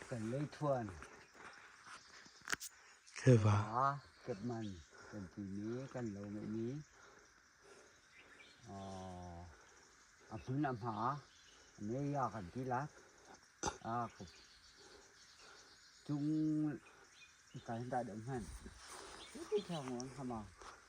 Kan lei thuan. Kheva. Kepman kan ti mi kan lo me mi. A hmun a hma. Ne ya kan ti lak. A ko. Tung kan da dom han. Ti thi thang on hama.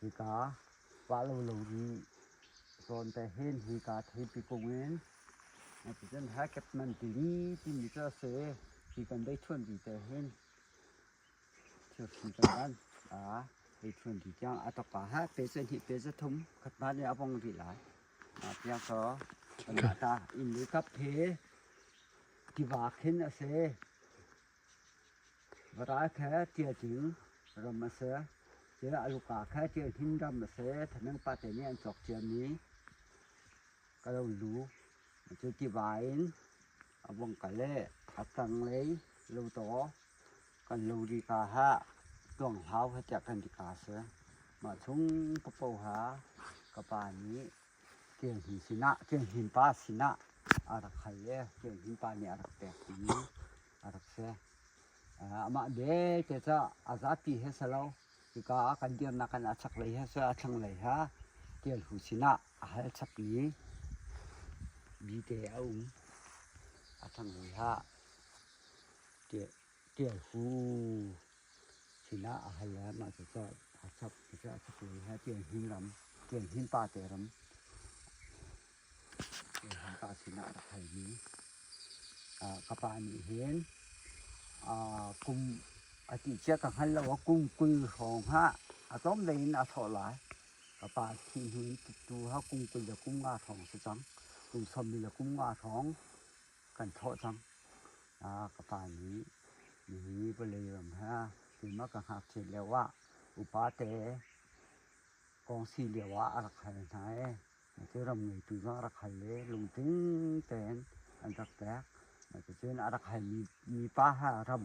Hika pah lo lo rih. Sawn te hin hika theipi kung in Nitrogen ha kep man timi timi cu a si. Hi kan bei ṭhuan vi te hin thirhri kan ban ei ṭhuan vi tiang a ṭapa ha. Pe cu hnih pe cu thum khat hna nih a bong rih lai. Tiang ko kan mah ta inn lu kap hi tiva khin a si. Varai khe ṭial tling ram a si, tiah a luka khe ṭial hnin ram a si. Thanang pate nih an cawk ciami kalo lu cu tiva in a vung kal i a tanglei lotaw kan lo rih ka hlah tuanghlau he tiah kan ti ka a si. Mah chung ka poha ka pa nih Kenhni sinah, kenhnin pa sinah a rak hal i kenhnin pa nih a rak pek timi a rak si. Amah belte cu a zapi he si lo, hika ah kan dirnak in a chaklei he si, a thlanglei he Tial Hu sinah a hal chapmi bite a um. A thlanglei ah Ṭial fu sinah a hal le mah cucu a chap cucu a chapui he ṭial hnin ram ṭial hnin pa te ram ṭial hnin pa sinah a rak halmi ka pa nih hin kum a ti cia ka hngal lo kum kul hrawng ha a tlawm lei in a thlawh lai ka pa thih hnu in tu ha kum kul le kum nga hrawng a si cang kum sawm li le kum nga hrawng kan thawh cang. Ah, ka pa nih nihin vawlei ram he keimah ka ngakchiat lio ah upate kawngsi lio ah a rak hal hna i cucu ngeitu zong a rak hal i lungtling tein an rak pek. Cucun a rak halmi mipa ha ram